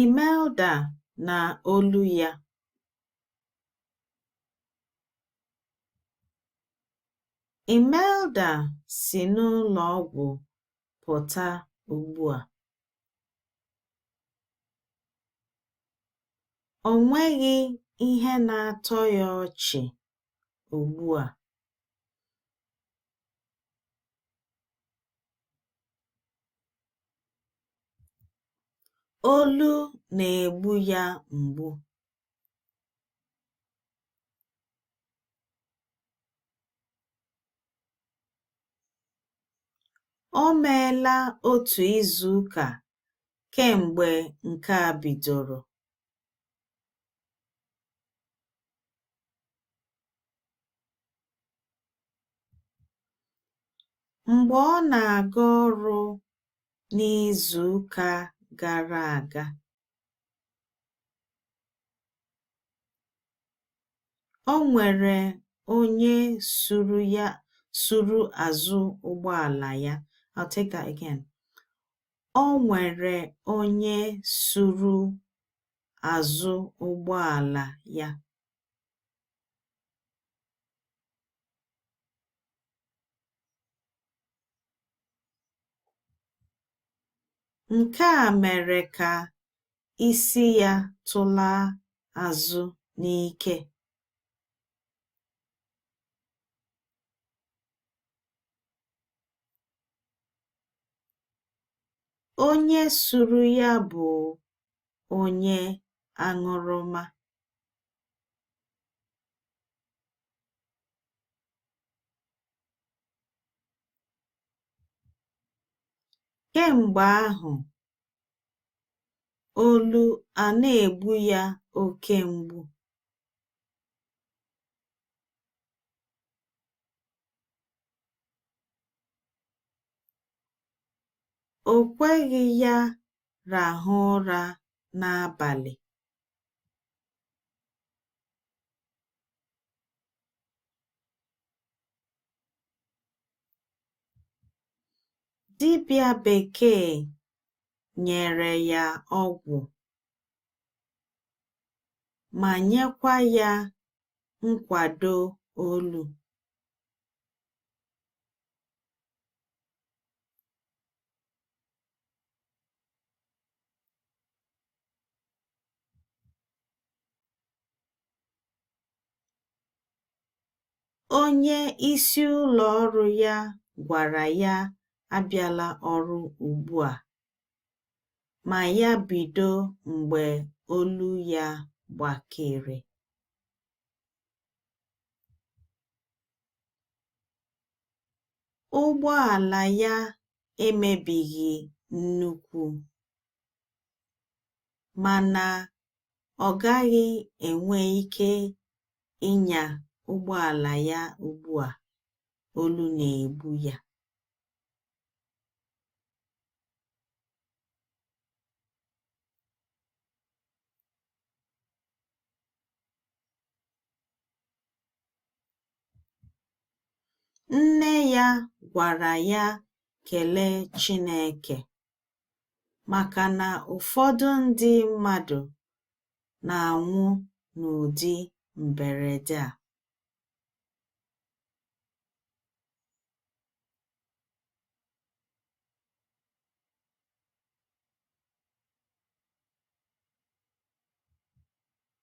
Imelda na olu ya. Imelda si n'ụlọ ọgwụ pụta ugbu a. O nweghị ihe na-atọ ya ọchị ugbu a. Olu na-egbu ya mgbu. O meela otu izuụka kemgbe nke a bidoro. Mgbe ọ na-aga ọrụ n'izuụka gara aga, o nwere onye suru ya suru azụ ụgbọala ya. I'll take that again. O nwere onye suru azụ ụgbọala ya. Nke a mere ka isi ya tụlaa azụ n'ike. Onye suru ya bụ onye aṅụrụma. Kemgbe ahụ, olu a na-egbu ya oke mgbu. O kweghị ya rahụ ụra n'abalị. Dibịa bekee nyere ya ọgwụ ma nyekwa ya nkwado olu. Onye isi ụlọ ọrụ ya gwara ya abịala ọrụ ugbu a, ma ya bido mgbe olu ya gbakere. Ụgbọala ya emebighị nnukwu, mana ọ gaghị enwe ike ịnya ụgbọala ya ugbu a olu na-egbu ya. Nne ya gwara ya kelee Chineke maka na ụfọdụ ndị mmadụ na-anwụ n'ụdị mberede a.